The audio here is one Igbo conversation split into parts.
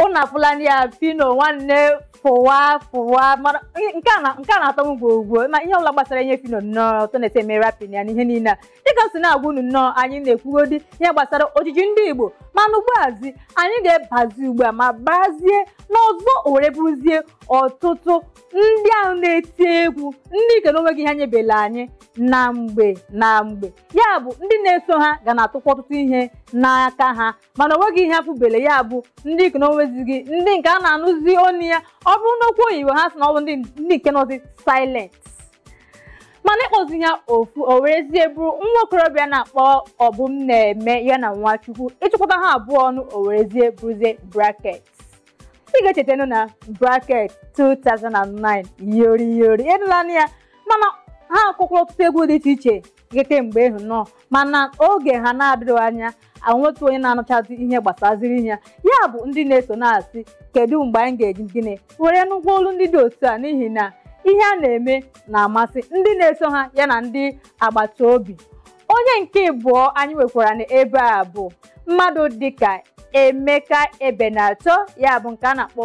ụnụ afụlanụ ya Phyno nwanne fụwa fụwa mana nke a na- nke a na-atọ m ugbo ugbo ma ihe ọbụla gbasara ihe Phyno nnọọ otu ọ na-esi eme rapping ya na ihe niile a dịka m si na-agwa unu nnọọ anyị na-ekwugodi ihe gbasara ojiji ndị Igbo mana ugbuazi anyị ga-ebazi ugbu a ma bazie n'ọzọ o were bụrụzie ọtụtụ ndị ahụ na-eti egwu ndị nke na onweghị ihe nyebela anyị na mgbe na mgbe ya bụ ndị na-eso ha ga na-atụkwa ọtụtụ ihe n'aka ha mana onweghị ihe afụbele ya bụ ndị nke na onwezighị ndị nke a na-anụzi ọnụ ya ọ bụrụ na okwu oyibo ha sị na ọ bụ ndị ndị nke nọzi silent mana ị kpọzie ha ofu o werezie bụrụ nwa okorobịa na-akpọ Obumneme ya na Nwachukwu ị chịkọta ha abụọ ọnụ o werezie bụrụzie Bracket ị ga-echetanụ na Bracket 2009 Yori Yori ị nụlanụ ya mana ha kụkwara ọtụtụ egwu dị iche iche ihe kemgbe ahụ nnọọ mana oge ha na-adịrịghị anya anwetu onye na-anụchazi ihe gbasaziri ihe ya bụ ndị na-eso na-asị kedu mgbe anyị ga-eji gịnị were nụkwa olu ndị dị otu a n'ihi na ihe ha na-eme na-amasị ndị na-eso ha ya na ndị agbata obi onye nke ịbụọ anyị nwekwara n'ebe a bụ mmadụ dịka Emeka Ebenator ya bụ nke a na-akpọ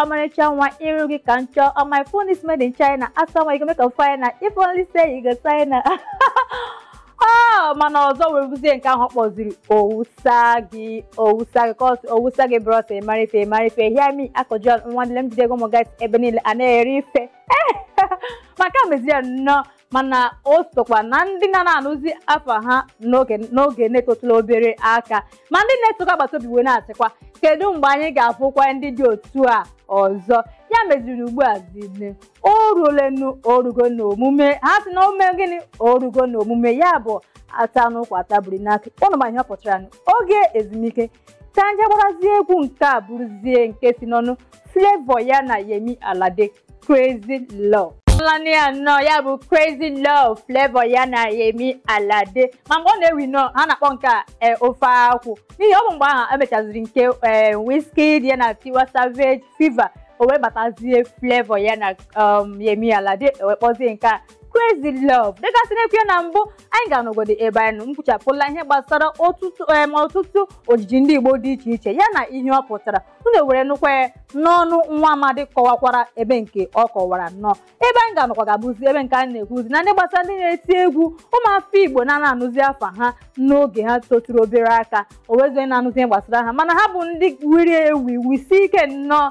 ọmarịcha nwa iru gị ka m chọọ my phone is made in China asa nwa you go make am finer if only say you go sign ọ mana ọzọ were bụzie nke ahụ kpọziri owusa gị owusa gị cos owusa gị bros ịmara ife ịmara ife hear me akọjọ nwanne m jidego ụmụ guys ebe niile a na-eri ife maka meziri ya nnọọ mana o sokwa na ndị na na-anụzi afa ha n'oge n'oge na-etotụla obere aka ma ndị na-esokwa agbata obi wee na-asịkwa kedu mgbe anyị ga-afụkwa ndị dị otu a ọzọ ya meziri ugbu a zine o ruolenu o rugo na omume ha sị na o me gịnị o rugo na omume ya bụ ata n'ụkwa atabiri n'aka ụnụ ma ihe ọ pụtara nụ. oge ezumike ka anyị gbarazie egwu nke a bụrụzie nke si n'ọnụ Flavour ya na Yemi Alade Crazy Love Ị nụlanụ ya nnọọ ya bụ Crazy Love Flavour ya na Yemi Alade ma mgbe ọ na-ewi nnọọ ha na-akpọ nke a e, ofe akwụ n'ihi ọ bụ mgbe ahụ e mechaziri nke e, Wizkid ya na Tiwa Savage Fever o wee batazie Flavour ya na um, Yemi Alade ewee kpọzie nke a Crazy Love. Dịka m si na-ekwu ya na mbụ anyị ga-anọgodu ebe anyị nọ kwuchapụla ihe gbasara ọtụtụ em, ọtụtụ ojiji ndị Igbo dị iche iche ya na ihe ọ pụtara unu were nụkwa ya n'ọnụ nwa amadi kọwakwara ebe nke ọ kọwara nnọọ ebe anyị ga-anọkwa ga-abụzi ebe nke anyị na-ekwuzi na ndị gbasara ndị na-eti egwu ụmụafọ Igbo na na-anụzi afa ha n'oge ha toturu obere aka o wezie na-anụzi ihe gbasara ha mana ha bụ ndị wiri ewi wisie ike nnọọ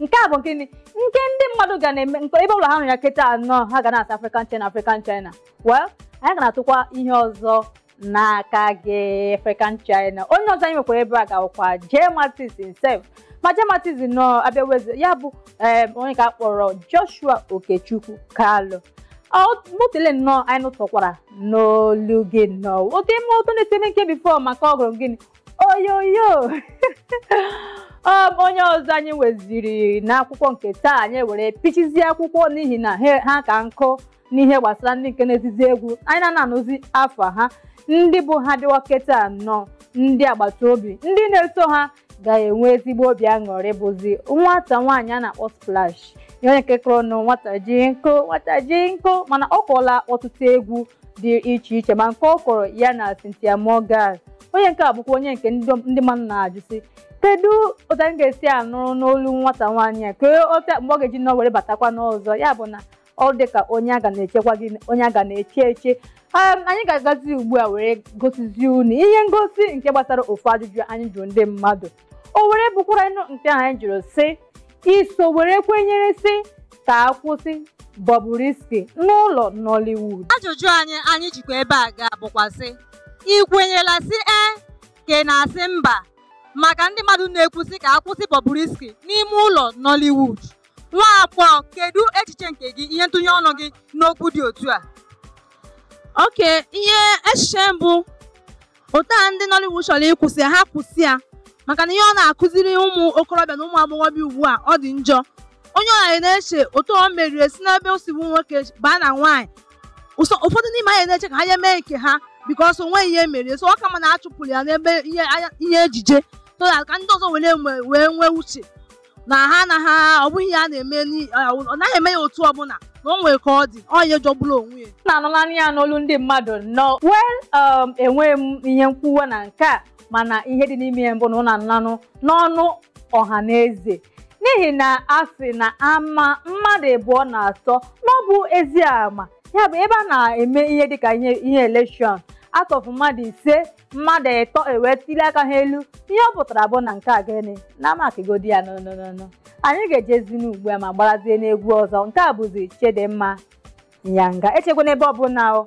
nke a bụ gịnị nke ndị mmadụ ga na-eme nke ebe ọbụla ha nọ ya kịta anọ ha ga na-asị African China African China well anyị ga na-atụkwa ihe ọzọ n'aka gị African China onye ọzọ anyị nwekwara ebe a ga-awụkwa Jay Martins himself ma Jay Martins nọ abịa weze ya bụ em, onye ka a kpọrọ Joshua Okechukwu Kalu motele nnọọ anyị nụtọkwara n'olu gị nnọọ oke mma ụtọ na-eseme nke bifo maka ọ gụrụ gịnị oyoyo ọ bụ onye ọzọ anyị weziri n'akwụkwọ nke taa anyị were pichizie akwụkwọ n'ihi na ha ka nkụ n'ihe gbasara ndị nke na-ezizi egwu anyị na na-anụzi afa ha ndị bụ ha dịwa kịta nọ ndị agbata obi ndị na-eso ha ga-enwe ezigbo obi aṅụrị bụzi nwata nwaanyị a na-akpọ Splash onye nke kụrụ nụ nwata ji nkụ nwata ji nkụ mana ọ kụọla ọtụtụ egwu dị iche iche ma nke ọ kụrụ ya na Cynthia Morgan onye nke a bụkwa onye nke ndị mmadụ na-ajụ sị kedu otu anyị ga-esi anụrụ n'olu nwata nwaanyị a kedu mgbe ọ ga-eji nọ were batakwa n'ọzọ ya bụ na ọ dị ka onye a ga na-echekwa gị onye a ga na-eche eche Ee, anyị ga-agazi ugbu a were gosizie unu ihe ngosi nke gbasara ofu ajụjụ anyị jụrụ ndị mmadụ o were bụkwara nụ nke ahụ anyị jụrụ sị i so were kwenyere sị ka a kwụsị Bobrisky n'ụlọ Nollywood ajụjụ anyị anyị jikwa ebe a ga-abụkwa sị ị kwenyela sị ee ka ị na-asị mba maka ndị mmadụ na-ekwu sị ka a kwụsị Bobrisky n'ime ụlọ Nollywood nwa agbọghọ kedu echiche nke gị ihe ntụnye ọnụ gị n'okwu dị otu a okay ihe echiche m bụ otu a ndị Nollywood chọrọ ịkwụsị ya ha kwụsị ya maka na ihe ọ na-akụziri ụmụ okorobịa na ụmụ agbọghọbịa ugbu a ọ dị njọ onye ọbụla na-eche otu o meriri si n'ebe o si bụ nwoke baa na nwaanyị so ụfọdụ n'ime anyị na-eche ka ha ya mee nke ha because o nwe ihe merie so ọ ka mma na a chụpụrụ ya n'ebe ihe anya- ihe ejije so that ka ndị ọzọ were enwe- wee nwee uche na ha na ha ọ bụghị ya na-eme n'i- ọ ọ naghị eme ya otu ọbụla na o nwere ka ọ dị ọ ihe jọgburu onwe ya unu anụlanụ ya n'olu ndị mmadụ nnọọ well um, enweghị m ihe nkwuwa na nke a mana ihe dị n'ime ya bụ na unu anụlanụ n'ọnụ ọha na eze n'ihi na a sị na ama mmadụ abụọ na atọ na ọ bụ ezi ama ya bụ ebe a na-eme ihe dịka ihe election out of mmadụ ise mmadụ ịtọ ewee tili aka ha elu ihe ọ pụtara bụ na nke a gịnị na makigodi ya n'ọnụnụnụ anyị ga-ejezinu ugbu a ma gbarazie unu egwu ọzọ nke a bụzi Chidinma Yanga ejekwana ebe ọbụla o